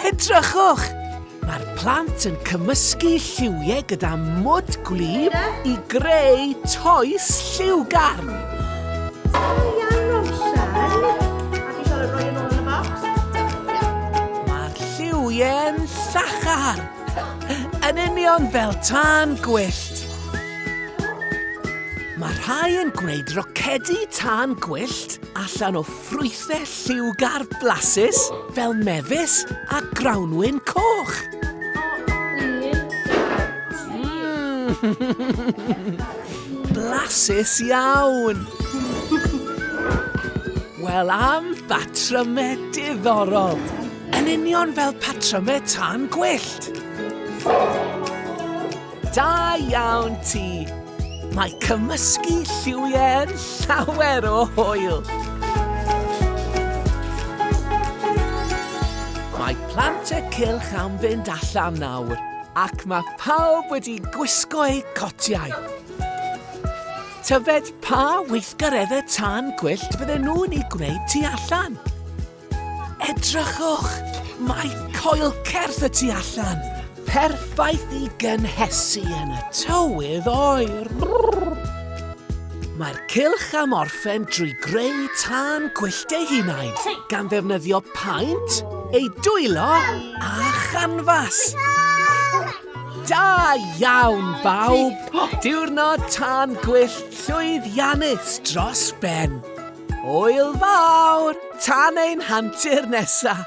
Edrychwch! Mae'r plant yn cymysgu lliwiau gyda mwd gwlyb i greu toes lliwgarn. Mae'r lliwiau'n llachar, yn union fel tân gwyllt. Mae rhai yn gwneud rocedi tân gwyllt allan o Ffrwythau lliwgar blasus fel mefus a grawnwin coch. Blasus iawn! Wel am batrymau diddorol! Yn union fel patrymau tân gwyllt! Da iawn ti! Mae cymysgu lliwiau'n llawer o hwyl! Mae plant y cylch am fynd allan nawr ac mae pawb wedi gwisgo eu cotiau. Tyfed pa weithgareddau tân gwyllt fydden nhw'n ei gwneud tu allan? Edrychwch! Mae coel certh y tu allan! Perffaith i gynhesu yn y tywydd oer! Mae'r cylch am orffen drwy greu tân gwyllt ei hunain, gan ddefnyddio paent, ei dwylo a chanfas. Da iawn, bawb! Diwrnod tân gwyllt llwyddiannus dros ben! Hwyl fawr! Tan ein hantur nesa!